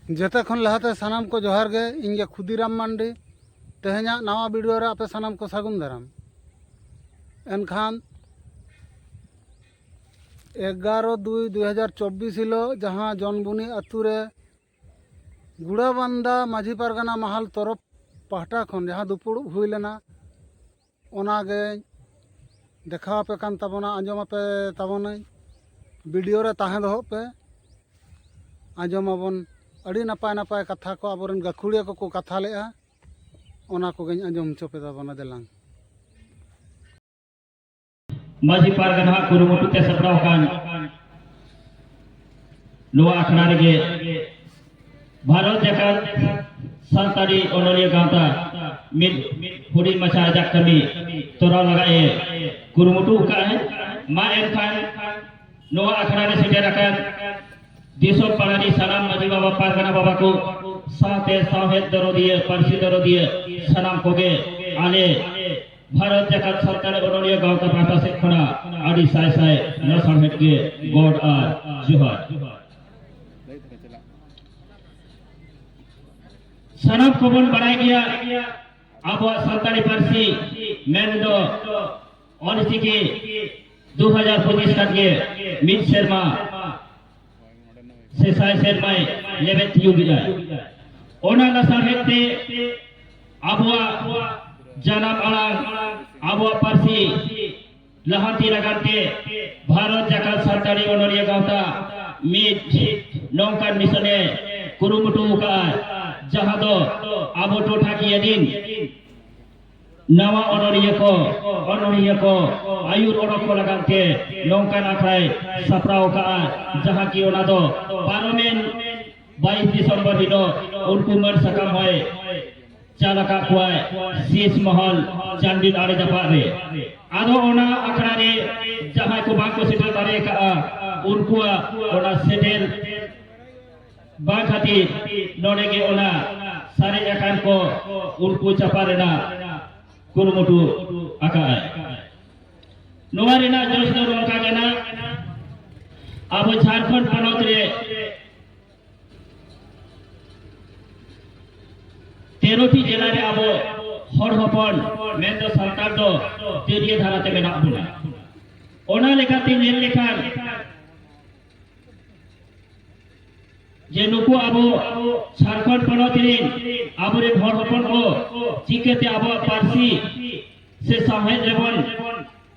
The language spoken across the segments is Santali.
ᱡᱮᱛᱮ ᱠᱷᱚᱱ ᱞᱟᱦᱟᱛᱮ ᱥᱟᱱᱟᱢ ᱠᱚ ᱡᱚᱦᱟᱨ ᱜᱮ ᱤᱧ ᱜᱮ ᱠᱷᱩᱫᱤᱨᱟᱢ ᱢᱟᱱᱰᱤ ᱛᱮᱦᱮᱧᱟᱜ ᱱᱟᱣᱟ ᱵᱷᱤᱰᱤᱭᱳ ᱨᱮ ᱟᱯᱮ ᱥᱟᱱᱟᱢ ᱠᱚ ᱥᱟᱹᱜᱩᱱ ᱫᱟᱨᱟᱢ ᱮᱱᱠᱷᱟᱱ ᱮᱜᱟᱨᱚ ᱫᱩᱭ ᱫᱩ ᱦᱟᱡᱟᱨ ᱪᱚᱵᱽᱵᱤᱥ ᱦᱤᱞᱳᱜ ᱡᱟᱦᱟᱸ ᱡᱚᱱᱵᱩᱱᱤ ᱟᱛᱳ ᱨᱮ ᱜᱩᱲᱟᱵᱟᱱᱫᱟ ᱢᱟᱹᱡᱷᱤ ᱯᱟᱨᱜᱟᱱᱟ ᱢᱟᱦᱟᱞ ᱛᱚᱨᱚᱯ ᱯᱟᱦᱴᱟ ᱠᱷᱚᱱ ᱡᱟᱦᱟᱸ ᱫᱩᱯᱩᱲᱩᱵ ᱦᱩᱭ ᱞᱮᱱᱟ ᱚᱱᱟᱜᱮ ᱫᱮᱠᱷᱟᱣ ᱟᱯᱮ ᱠᱟᱱ ᱛᱟᱵᱚᱱᱟ ᱟᱸᱡᱚᱢ ᱟᱯᱮ ᱛᱟᱵᱚᱱᱟᱹᱧ ᱵᱷᱤᱰᱤᱭᱳ ᱨᱮ ᱛᱟᱦᱮᱸ ᱫᱚᱦᱚᱜ ᱯᱮ ᱟᱸᱡᱚᱢ ᱟᱵᱚᱱ ᱟᱹᱰᱤ ᱱᱟᱯᱟᱭ ᱱᱟᱯᱟᱭ ᱠᱟᱛᱷᱟ ᱠᱚ ᱟᱵᱚᱨᱮᱱ ᱜᱟᱹᱠᱷᱩᱲᱤᱭᱟᱹ ᱠᱚᱠᱚ ᱠᱟᱛᱷᱟ ᱞᱮᱜᱼᱟ ᱚᱱᱟ ᱠᱚᱜᱮᱧ ᱟᱸᱡᱚᱢ ᱦᱚᱪᱚ ᱯᱮ ᱛᱟᱵᱚᱱᱟ ᱫᱮᱞᱟᱝ ᱢᱟᱹᱡᱷᱤ ᱯᱟᱨᱜᱟᱱᱟ ᱦᱟᱜ ᱠᱩᱨᱩᱢᱩᱴᱩ ᱛᱮ ᱥᱟᱯᱲᱟᱣ ᱟᱠᱟᱱ ᱱᱚᱣᱟ ᱟᱠᱷᱲᱟ ᱨᱮᱜᱮ ᱵᱷᱟᱨᱚᱛ ᱡᱟᱠᱟᱛ ᱥᱟᱱᱛᱟᱲᱤ ᱚᱱᱚᱞᱤᱭᱟᱹ ᱜᱟᱶᱛᱟ ᱢᱤᱫ ᱦᱩᱰᱤᱧ ᱢᱟᱪᱷᱟ ᱟᱡᱟᱜ ᱠᱟᱹᱢᱤ ᱛᱚᱨᱟᱣ ᱞᱟᱜᱟᱜ ᱮ ᱠᱩᱨᱩᱢᱩᱴᱩ ᱟᱠᱟᱫ ᱟᱭ ᱢᱟ ᱮᱱᱠᱷᱟᱱ ᱱᱚᱣᱟ ᱟᱠᱷᱲᱟ ᱨᱮ ᱥᱮᱴᱮᱨ ᱟᱠᱟᱱ ᱫᱤᱥᱚᱢ ᱯᱟᱲᱟᱨᱤ ᱥᱟᱱᱟᱢ ᱢᱟᱹᱡᱷᱤ ᱵᱟᱵᱟ ᱯᱟᱨᱜᱟᱱᱟ ᱵᱟᱵᱟ ᱠᱚ ᱥᱟᱶᱛᱮ ᱥᱟᱶᱦᱮᱫ ᱫᱚᱨᱚᱫᱤᱭᱟᱹ ᱯᱟᱹᱨᱥᱤ ᱫᱚᱨᱚᱫᱤᱭᱟᱹ ᱥᱟᱱᱟᱢ ᱠᱚᱜᱮ ᱟᱞᱮ ᱵᱷᱟᱨᱚᱛ ᱡᱟᱠᱟᱛ ᱥᱟᱱᱛᱟᱲ ᱚᱱᱚᱞᱤᱭᱟᱹ ᱜᱟᱶᱛᱟ ᱯᱟᱦᱴᱟ ᱥᱮᱫ ᱠᱷᱚᱱᱟᱜ ᱟᱹᱰᱤ ᱥᱟᱭ ᱥᱟᱭ ᱱᱚᱥᱟᱲᱦᱮᱫ ᱜᱮ ᱜᱚᱰ ᱟᱨ ᱡᱚᱦᱟᱨ ᱥᱟᱱᱟᱢ ᱠᱚᱵᱚᱱ ᱵᱟᱲᱟᱭ ᱜᱮᱭᱟ ᱟᱵᱚᱣᱟᱜ ᱥᱟᱱᱛᱟᱲᱤ ᱯᱟᱹᱨᱥᱤ ᱢᱮᱱ ᱫᱚ ᱚᱞᱪᱤᱠᱤ ᱫᱩ ᱦᱟᱡᱟᱨ ᱯᱚᱸᱪᱤᱥ ᱠᱷᱟᱱ ᱜᱮ ᱢᱤᱫ ᱥᱮᱨᱢᱟ ᱥᱮ ᱥᱟᱭ ᱥᱮᱨᱢᱟᱭ ᱞᱮᱵᱮᱫ ᱛᱤᱭᱳᱜ ᱮᱫᱟ ᱚᱱᱟ ᱞᱟᱥᱟᱲᱦᱮᱫ ᱛᱮ ᱟᱵᱚᱣᱟᱜ ᱡᱟᱱᱟᱢ ᱟᱲᱟᱝ ᱟᱵᱚᱣᱟᱜ ᱯᱟᱹᱨᱥᱤ ᱞᱟᱦᱟᱱᱛᱤ ᱞᱟᱜᱟᱱ ᱛᱮ ᱵᱷᱟᱨᱚᱛ ᱡᱟᱠᱟᱛ ᱥᱟᱱᱛᱟᱲᱤ ᱚᱱᱚᱞᱤᱭᱟᱹ ᱜᱟᱶᱛᱟ ᱢᱤᱫ ᱱᱚᱝᱠᱟᱱ ᱢᱤᱥᱚᱱᱮ ᱠᱩᱨᱩᱢᱩᱴᱩ ᱟᱠᱟᱫᱼᱟ ᱡᱟᱦᱟᱸ ᱫᱚ ᱟᱵᱚ ᱴᱚᱴᱷᱟᱠᱤᱭᱟᱹ ᱨᱤᱱ ᱱᱟᱣᱟ ᱚᱱᱚᱞᱤᱭᱟᱹ ᱠᱚ ᱚᱱᱚᱞᱤᱭᱟᱹ ᱠᱚ ᱟᱹᱭᱩᱨ ᱚᱰᱚᱠ ᱠᱚ ᱞᱟᱜᱟᱱ ᱛᱮ ᱱᱚᱝᱠᱟᱱ ᱟᱠᱷᱲᱟᱭ ᱥᱟᱯᱲᱟᱣ ᱟᱠᱟᱫᱼᱟ ᱡᱟᱦᱟᱸ ᱠᱤ ᱚᱱᱟ ᱫᱚ ᱯᱟᱨᱚᱢᱮᱱ ᱵᱟᱭᱤᱥ ᱫᱤᱥᱚᱢᱵᱚᱨ ᱦᱤᱞᱳᱜ ᱩᱱᱠᱩ ᱢᱟᱹᱱ ᱥᱟᱠᱟᱢ ᱦᱚᱭ ᱪᱟᱞ ᱟᱠᱟᱫ ᱠᱚᱣᱟᱭ ᱥᱤᱥ ᱢᱚᱦᱚᱞ ᱪᱟᱱᱰᱤᱞ ᱟᱲᱮ ᱡᱟᱯᱟᱜ ᱨᱮ ᱟᱫᱚ ᱚᱱᱟ ᱟᱠᱷᱲᱟ ᱨᱮ ᱡᱟᱦᱟᱸᱭ ᱠᱚ ᱵᱟᱝ ᱠᱚ ᱥᱮᱴᱮᱨ ᱫᱟᱲᱮ ᱟᱠᱟᱫᱼᱟ ᱩᱱᱠᱩᱣᱟᱜ ᱚᱱᱟ ᱥᱮᱴᱮᱨ ᱵᱟᱝ ᱠᱷᱟᱹᱛᱤᱨ ᱱᱚᱰᱮ ᱜᱮ ᱚᱱᱟ ᱥᱟᱨᱮᱡ ᱟᱠᱟᱱ ᱠᱚ ᱩᱱᱠᱩ ᱪᱟᱯᱟ ᱨᱮᱱᱟᱜ ᱠᱩᱨᱩᱢᱩᱴᱩ ᱟᱠᱟᱫᱼᱟᱭ ᱱᱚᱣᱟ ᱨᱮᱱᱟᱜ ᱡᱚᱥ ᱫᱚ ᱱᱚᱝᱠᱟ ᱠᱟᱱᱟ ᱟᱵᱚ ᱡᱷᱟᱲᱠᱷᱚᱸᱰ ᱯᱚᱱᱚᱛ ᱨᱮ ᱛᱮᱨᱚᱴᱤ ᱡᱮᱞᱟ ᱨᱮ ᱟᱵᱚ ᱦᱚᱲ ᱦᱚᱯᱚᱱ ᱢᱮᱱᱫᱚ ᱥᱟᱱᱛᱟᱲ ᱫᱚ ᱛᱤᱨᱭᱟᱹ ᱫᱷᱟᱨᱟ ᱛᱮ ᱢᱮᱱᱟᱜ ᱵᱚᱱᱟ ᱚᱱᱟ ᱞᱮᱠᱟᱛᱮ ᱧᱮᱞ ᱞᱮᱠᱷᱟᱱ ᱡᱮ ᱱᱩᱠᱩ ᱟᱵᱚ ᱡᱷᱟᱲᱠᱷᱚᱸᱰ ᱯᱚᱱᱚᱛ ᱨᱮᱱ ᱟᱵᱚᱨᱮᱱ ᱦᱚᱲ ᱦᱚᱯᱚᱱ ᱠᱚ ᱪᱤᱠᱟᱹᱛᱮ ᱟᱵᱚᱣᱟᱜ ᱯᱟᱹᱨᱥᱤ ᱥᱮ ᱥᱟᱶᱦᱮᱫ ᱨᱮᱵᱚᱱ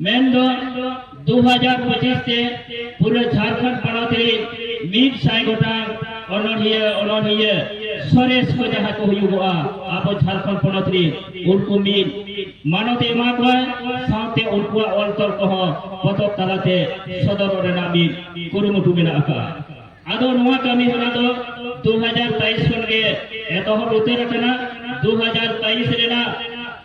ᱢᱮᱱ ᱫᱚ 2025 ᱛᱮ ᱯᱩᱨᱟᱹ ᱡᱷᱟᱨᱠᱷᱚᱸᱰ ᱯᱚᱱᱚᱛ ᱨᱮ ᱢᱤᱫ ᱥᱟᱭ ᱜᱚᱴᱟᱝ ᱚᱱᱚᱲᱦᱤᱭᱟᱹ ᱚᱱᱚᱲᱦᱤᱭᱟᱹ ᱥᱚᱨᱮᱥ ᱠᱚ ᱡᱟᱦᱟᱸ ᱠᱚ ᱦᱩᱭᱩᱜᱚᱜᱼᱟ ᱟᱵᱚ ᱡᱷᱟᱨᱠᱷᱚᱸᱰ ᱯᱚᱱᱚᱛ ᱨᱮ ᱩᱱᱠᱩ ᱢᱤᱫ ᱢᱟᱱᱚᱛ ᱮᱢᱟ ᱠᱚᱣᱟ ᱥᱟᱶᱛᱮ ᱩᱱᱠᱩᱣᱟᱜ ᱚᱞ ᱛᱚᱞ ᱠᱚᱦᱚᱸ ᱯᱚᱛᱚᱵ ᱛᱟᱞᱟᱛᱮ ᱥᱚᱫᱚᱨ ᱨᱮᱱᱟᱜ ᱢᱤᱫ ᱠᱩᱨᱩᱢᱩᱴᱩ ᱢᱮᱱᱟᱜ ᱟᱠᱟᱫᱼᱟ ᱟᱫᱚ ᱱᱚᱣᱟ ᱠᱟᱹᱢᱤ ᱦᱚᱨᱟ ᱫᱚ 2023 ᱠᱷᱚᱱ ᱜᱮ ᱮᱛᱚᱦᱚᱵ ᱩᱛᱟᱹᱨ ᱟᱠᱟᱱᱟ 2023 ᱨᱮᱱᱟᱜ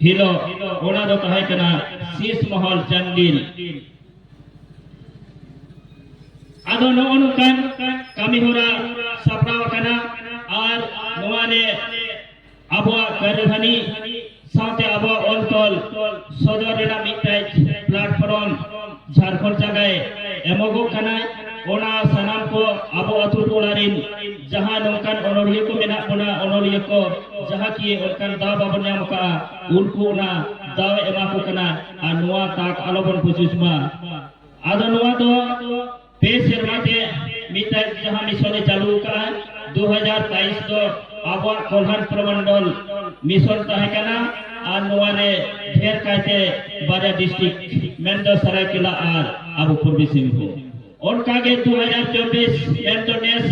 ᱦᱤᱞᱳᱜ ᱚᱱᱟ ᱫᱚ ᱛᱟᱦᱮᱸ ᱠᱟᱱᱟ ᱥᱤᱥ ᱢᱚᱦᱚᱞ ᱪᱟᱱᱰᱤᱞ ᱟᱫᱚ ᱱᱚᱜᱼᱚ ᱱᱚᱝᱠᱟᱱ ᱠᱟᱹᱢᱤ ᱦᱚᱨᱟ ᱥᱟᱯᱲᱟᱣ ᱟᱠᱟᱱᱟ ᱟᱨ ᱱᱚᱣᱟ ᱨᱮ ᱟᱵᱚᱣᱟᱜ ᱠᱟᱹᱨᱤᱫᱷᱟᱹᱱᱤ ᱥᱟᱶᱛᱮ ᱟᱵᱚᱣᱟᱜ ᱚᱞ ᱛᱚᱞ ᱥᱚᱫᱚᱨ ᱨᱮᱱᱟᱜ ᱢᱤᱫᱴᱮᱡ ᱯᱞᱟᱴᱯᱷᱚᱨᱚᱢ ᱡᱷᱟᱲᱠᱷᱚᱸᱰ ᱡᱟᱭᱜᱟᱭ ᱮᱢᱚᱜᱚᱜ ᱠᱟᱱᱟᱭ ᱚᱱᱟ ᱥᱟᱱᱟᱢ ᱠᱚ ᱟᱵᱚ ᱟᱛᱳ ᱴᱚᱞᱟ ᱨᱤᱱ ᱡᱟᱦᱟᱸ ᱱᱚᱝᱠᱟᱱ ᱚᱱᱚᱞᱤᱭᱟᱹ ᱠᱚ ᱢᱮᱱᱟᱜ ᱵᱚᱱᱟ ᱚᱱᱚᱞᱤᱭᱟᱹ ᱠᱚ ᱡᱟᱦᱟᱸ ᱠᱤ ᱚᱱᱠᱟᱱ ᱫᱟᱣ ᱵᱟᱵᱚᱱ ᱧᱟᱢ ᱠᱟᱜᱼᱟ ᱩᱱᱠᱩ ᱚᱱᱟ ᱫᱟᱣ ᱮᱢᱟ ᱠᱚ ᱠᱟᱱᱟ ᱟᱨ ᱱᱚᱣᱟ ᱛᱟᱠ ᱟᱞᱚᱵᱚᱱ ᱯᱩᱪᱩᱡ ᱢᱟ ᱟᱫᱚ ᱱᱚᱣᱟ ᱫᱚ ᱯᱮ ᱥᱮᱨᱢᱟ ᱛᱮ ᱢᱤᱫᱴᱟᱝ ᱡᱟᱦᱟᱸ ᱢᱤᱥᱚᱱ ᱮ ᱪᱟᱹᱞᱩ ᱟᱠᱟᱫᱼᱟ ᱫᱩ ᱦᱟᱡᱟᱨ ᱵᱟᱭᱤᱥ ᱫᱚ ᱟᱵᱚᱣᱟᱜ ᱠᱚᱞᱦᱟᱱ ᱯᱨᱚᱢᱚᱱᱰᱚᱞ ᱢᱤᱥᱚᱱ ᱛᱟᱦᱮᱸ ᱠᱟᱱᱟ ᱟᱨ ᱱᱚᱣᱟ ᱨᱮ ᱰᱷᱮᱨ ᱠᱟᱭᱛᱮ ᱵᱟᱨᱭᱟ ᱰᱤᱥᱴᱨᱤᱠᱴ ᱢᱮᱱᱫᱚ ᱥᱟᱨᱟᱭᱠᱮᱞᱟ ᱟᱨ ᱟᱵᱚ ᱯᱩᱨᱵᱤ ᱥᱤᱝᱵᱷᱩᱢ ᱚᱱᱠᱟᱜᱮ ᱫᱩ ᱦᱟᱡᱟᱨ ᱪᱚᱵᱵᱤᱥ ᱢᱮᱱᱫᱚ ᱱᱮᱥ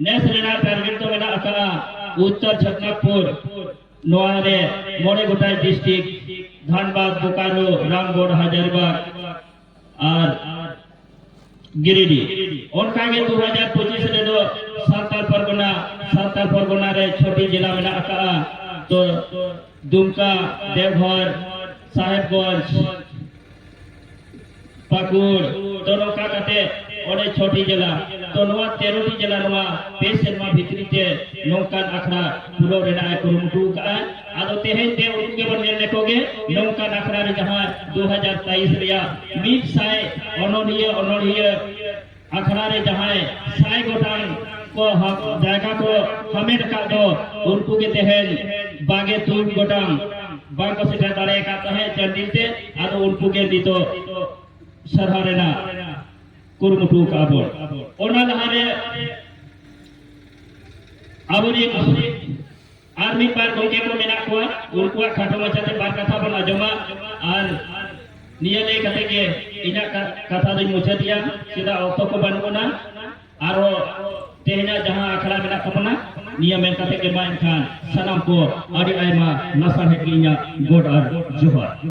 ᱱᱮᱥ ᱨᱮᱱᱟᱜ ᱴᱟᱨᱜᱮᱴ ᱫᱚ ᱢᱮᱱᱟᱜ ᱟᱠᱟᱫᱼᱟ ᱩᱛᱛᱚᱨ ᱪᱷᱚᱴᱱᱟᱜᱽᱯᱩᱨ ᱱᱚᱣᱟ ᱨᱮ ᱢᱚᱬᱮ ᱜᱚᱴᱟᱭ ᱰᱤᱥᱴᱨᱤᱠᱴ ᱫᱷᱟᱱᱵᱟᱫᱽ ᱵᱳᱠᱟᱨᱳ ᱨᱟᱢᱜᱚᱲ ᱦᱟᱡᱟᱨᱤᱵᱟᱜᱽ ᱟᱨ ᱜᱤᱨᱤᱰᱤ ᱚᱱᱠᱟᱜᱮ ᱫᱩ ᱦᱟᱡᱟᱨ ᱯᱚᱸᱪᱤᱥ ᱨᱮᱫᱚ ᱥᱟᱱᱛᱟᱲ ᱯᱟᱨᱜᱟᱱᱟ ᱥᱟᱱᱛᱟᱲ ᱯᱟᱨᱜᱟᱱᱟ ᱨᱮ ᱪᱷᱚᱴᱤ ᱡᱮᱞᱟ ᱢᱮᱱᱟᱜ ᱟᱠᱟᱫᱼᱟ ᱛᱚ ᱫᱩᱢᱠᱟ ᱫᱮᱣᱜᱷᱚᱨ ᱥᱟᱦᱮᱵᱽᱜᱚᱸᱡᱽ ᱯᱟᱹᱠᱩᱲ ᱛᱚ ᱱᱚᱝᱠᱟ ᱠᱟᱛᱮ ᱚᱸᱰᱮ ᱪᱷᱚᱴᱤ ᱡᱮᱞᱟ ᱛᱚ ᱱᱚᱣᱟ ᱛᱮᱨᱚᱴᱤ ᱡᱮᱞᱟ ᱱᱚᱣᱟ ᱯᱮ ᱥᱮᱨᱢᱟ ᱵᱷᱤᱛᱨᱤ ᱛᱮ ᱱᱚᱝᱠᱟᱱ ᱟᱠᱷᱲᱟ ᱯᱩᱨᱟᱹᱣ ᱨᱮᱱᱟᱜ ᱮ ᱠᱩᱨᱩᱢᱩᱴᱩ ᱟᱠᱟᱫᱼᱟ ᱟᱫᱚ ᱛᱮᱦᱮᱧ ᱛᱮ ᱩᱱᱠᱩ ᱜᱮᱵᱚᱱ ᱧᱮᱞ ᱞᱮᱠᱚ ᱜᱮ ᱱᱚᱝᱠᱟᱱ ᱟᱠᱷᱲᱟ ᱨᱮ ᱡᱟᱦᱟᱸ 2023 ᱨᱮᱭᱟᱜ ᱢᱤᱫ ᱥᱟᱭ ᱚᱱᱚᱞᱤᱭᱟᱹ ᱚᱱᱚᱞᱤᱭᱟᱹ ᱟᱠᱷᱲᱟ ᱨᱮ ᱡᱟᱦᱟᱸᱭ ᱥᱟᱭ ᱜᱚᱴᱟᱝ ᱠᱚ ᱡᱟᱭᱜᱟ ᱠᱚ ᱦᱟᱢᱮᱴ ᱟᱠᱟᱫ ᱫᱚ ᱩᱱᱠᱩ ᱜᱮ ᱛᱮᱦᱮᱧ ᱵᱟᱜᱮ ᱛᱩᱨ ᱜᱚᱴᱟᱝ ᱵᱟᱝ ᱠᱚ ᱥᱮᱴᱮᱨ ᱫᱟᱲᱮ ᱟᱠᱟᱫ ᱛᱟᱦᱮᱸᱫ ᱪᱟᱱᱰᱤᱞ ᱛᱮ ᱟᱫᱚ ᱩᱱᱠᱩ ᱜᱮ ᱱᱤᱛᱚᱜ ᱥᱟᱨᱦᱟᱣ ᱨᱮᱱᱟᱜ ᱠᱩᱨᱩᱢᱩᱴᱩ ᱟᱠᱟᱫ ᱵᱚᱱ ᱚᱱᱟ ᱞᱟᱦᱟᱨᱮ ᱟᱵᱚᱨᱮᱱ ᱟᱨ ᱢᱤᱫ ᱵᱟᱨ ᱜᱚᱢᱠᱮ ᱠᱚ ᱢᱮᱱᱟᱜ ᱠᱚᱣᱟ ᱩᱱᱠᱩᱣᱟᱜ ᱠᱷᱟᱴᱚ ᱢᱟᱪᱷᱟᱛᱮ ᱵᱟᱨ ᱠᱟᱛᱷᱟ ᱵᱚᱱ ᱟᱸᱡᱚᱢᱟ ᱟᱨ ᱱᱤᱭᱟᱹ ᱞᱟᱹᱭ ᱠᱟᱛᱮ ᱜᱮ ᱤᱧᱟᱹᱜ ᱠᱟᱛᱷᱟ ᱫᱚᱧ ᱢᱩᱪᱟᱹᱫᱮᱜᱼᱟ ᱪᱮᱫᱟᱜ ᱚᱠᱛᱚ ᱠᱚ ᱵᱟᱹᱱᱩᱜ ᱟᱱᱟ ᱟᱨᱚ ᱛᱮᱦᱮᱧᱟᱜ ᱡᱟᱦᱟᱸ ᱟᱠᱷᱲᱟ ᱢᱮᱱᱟᱜ ᱛᱟᱵᱚᱱᱟ ᱱᱤᱭᱟᱹ ᱢᱮᱱ ᱠᱟᱛᱮ ᱜᱮ ᱢᱟ ᱮᱱᱠᱷᱟᱱ ᱥᱟᱱᱟᱢ ᱠᱚ ᱟᱹᱰᱤ ᱟᱭᱢᱟ ᱞᱟᱥᱟᱲᱦᱮᱫ ᱜᱮ ᱤᱧᱟᱹᱜ ᱜᱚᱰ ᱟᱨ ᱡᱚᱦᱟᱨ